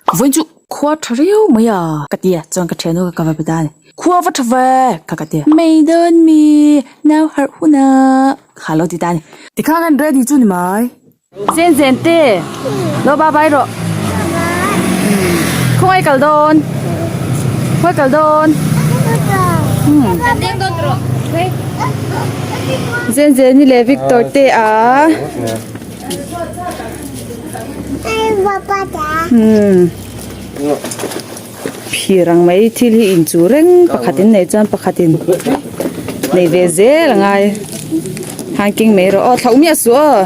vawiin chu khua tha riau mai a ka ti a chuan ka thian hnawk a ka va pe ta a ni khua va tha ve kha ka ti a mei dawn mi nau harh hun a kha a lo ti ta a ni tikha hian ready chu ni mai. Zen zen te lo ba bai rawh khawngaih kal dawn khawngaih kal dawn Zen zen i leh Victor te a. phir ang mai thil hi in chu reng pakhat in nei chuan pakhat in nei ve zel a ngai han keng mai rawh aw thlauh miah suh aw.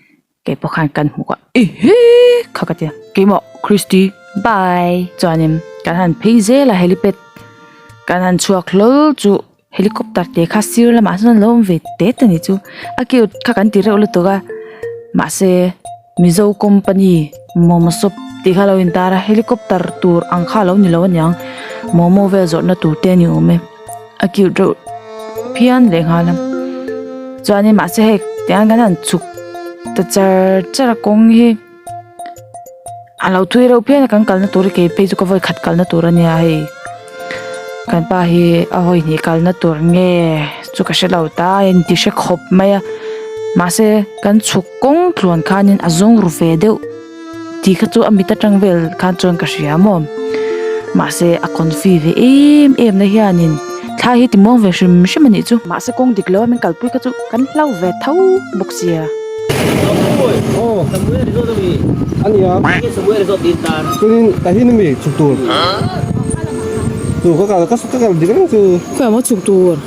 kei pawh khan kan hmu kah i he kha ka tia kei maw christy bye chuanin kan han phei zela helipad kan han chhuak hlawl chu helicopter te kha sir lamah sawn a lo awm ve te ta ni chu a cute kha kan ti reuh lutuk a mahse mizo company momo shop tih kha lo intar a helicopter tur ang kha lo ni lo aniang momo vel zawrhna tur te a ni awm e. a cute reuh phian leh nghal a chuanin mahse hei tiang an han chhuk ta char char a kawng hi a lo thui reuh phian a kan kalna tur hi kei phei chu ka vawi khat kalna tur a nia hei kan pa hi a vawi hnih kalna tur nge chu ka hrelo ta a en ti hre khawp mai a mahse kan chhuk kawng tluan khanin a zawng ru ve deuh. Tih kha chu a mit atang vel khan chuan ka hria maw. Mahse a confi ve em em na hianin thlai hi ti muang ve hrim hrim a nih chu. Mahse kawng dik lo a min kalpui kha chu kan hlau ve tho bawk sia. Aw.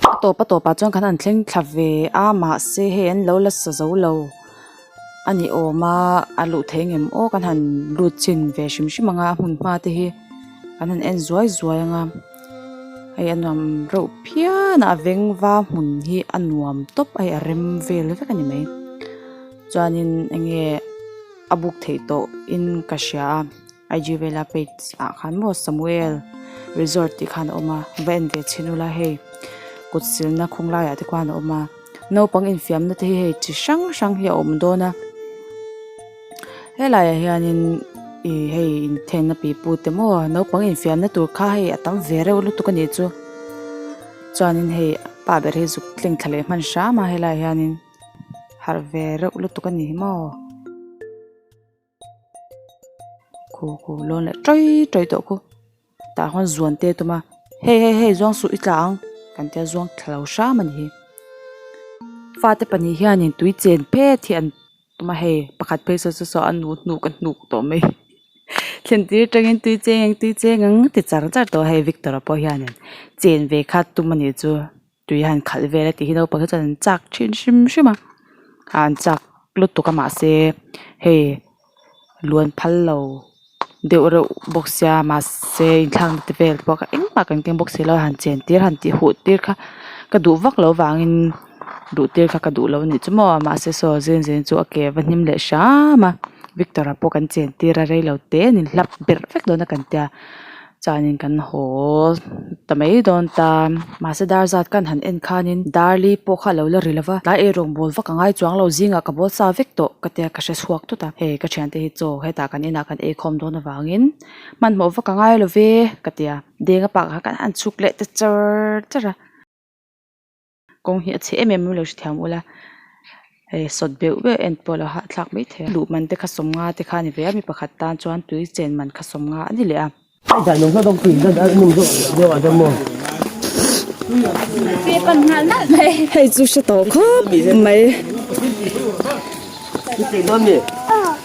a tawp a tawpah chuan kan han thleng thla ve a mahse hei an lo la sa zo lo a ni awm a a luh theih ngam aw kan han lut chin ve hrim hrim anga a hmunhma te hi kan han en zuai zuai anga hei a nuam reuh phian a a veng va hmun hi a nuam tawp a hei a rem vel vek a ni mai chuanin enge a buk theih tawhin ka hria a. IG vela page ah khan maw Samuel resort tih khan a awm a va en ve chhin ula hei kut silna khawng laiah te khan a awm a naupang infiamna te hi hei chi hrang hrang hi a awm dawn a helaiah hianin ih hei inthengna pipu te maw naupang infiamna tur kha hei a tam ve reuh lutuk a nih chu chuanin hei pa ber hi zuk thleng thla leh hman hrama helaiah hianin harh ve reuh lutuk a nih hi maw. kho kho lawn leh ṭai ṭai tawh khaw tah khawn zuan te tum a hei hei hei zawng suh i tla ang kan tia zawng thla lo hram a ni hi fate pahnih hianin tui chen phet hi an awm a hei pakhat phei sawn sawn sawn a nu hnu ka hnuk tawh mai thlentir aṭangin tui cheng ang tui cheng ang ti char char tawh hei victor pawh hianin chen ve kha tum a nih chu. tui a han khalh vel a tih hi naupang hi chuan an chak thin hrim hrim a ah an chak lutuk a mahse hei luan phal lo deuh reuh bawk sia mahse inthlak nate vel te pawh engmah kan keng bawk si lo a han chen tir han tih huh tir kha ka duh vak lo vangin duh tir kha ka duh lo anih chu maw mahse saw zeng zeng chu a ke va hnim leh hram a victor ah pawh kan chen tir a rei lo te a ni hlap ber vek dawna kan tia. Chuanin kan haw ta mai dawn ta mahse dar zat kan han en khanin dar li pawh kha a lo la ri lova tlai erawh ball vak a ngai chuang lo zingah ka ball sa vek tawh ka tia ka hre chhuak tawt a hei ka thiante hi chaw hetah kan inah kan ei khawm dawn avangin hmanhmawh vak a ngai love ka tia denga pakah khan an chhuk leh ta char char a. kawng hi a chhe em em mai lo hre thiam ula eh sawt beuh beuh en pawh a lo hahthlak mai thei a luh man te kha sawm nga te kha a ni ve a mi pakhat tan chuan tui chen man kha sawm nga a ni leh a.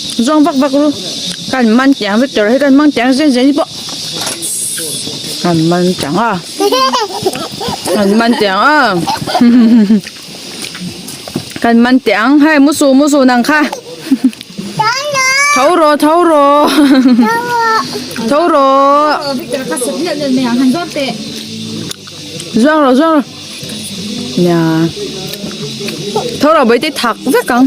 Zawng vak vak ru, kan man tih ang Victor, hei kan hmang tih ang zen zen hi pawh kan man tih ang a, kan man tih ang a, kan man tih ang, hei mu su mu su nang kha, tho rawh tho rawh, tho rawh, zuang rawh zuang rawh, nia, tho rawh Bawihtei thak vek ang.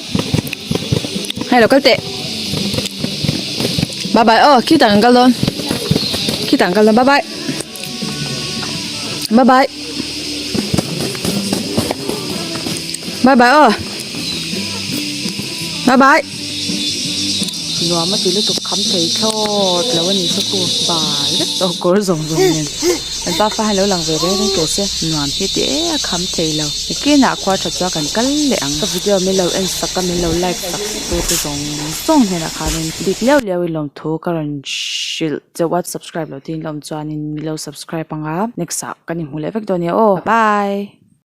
Hello, kal teh. Bye bye. Oh, khi tang kal don. Khi tang kal don. Bye bye. Bye bye. Bye bye. Oh. Bye bye. Nuam ma ti lu tuk kham thei thlawt lo ani saku bye. Oh, kawr zawng zawng nen. Kan pa fa hian lo lang ve reng reng teh se nuam hi ti e a kham thei lo i clean a khuar tha chuan kan kal leh ang ka video min lo en sak a min lo like sak tur te zawng zawng hnen ah khan in bik liau liau in lawm thu ka rawn hrilh chauh a subscribe lo tiin lawm chuan in milo subscribe anga next ah kan inhmu leh vek dawn nia aw bye.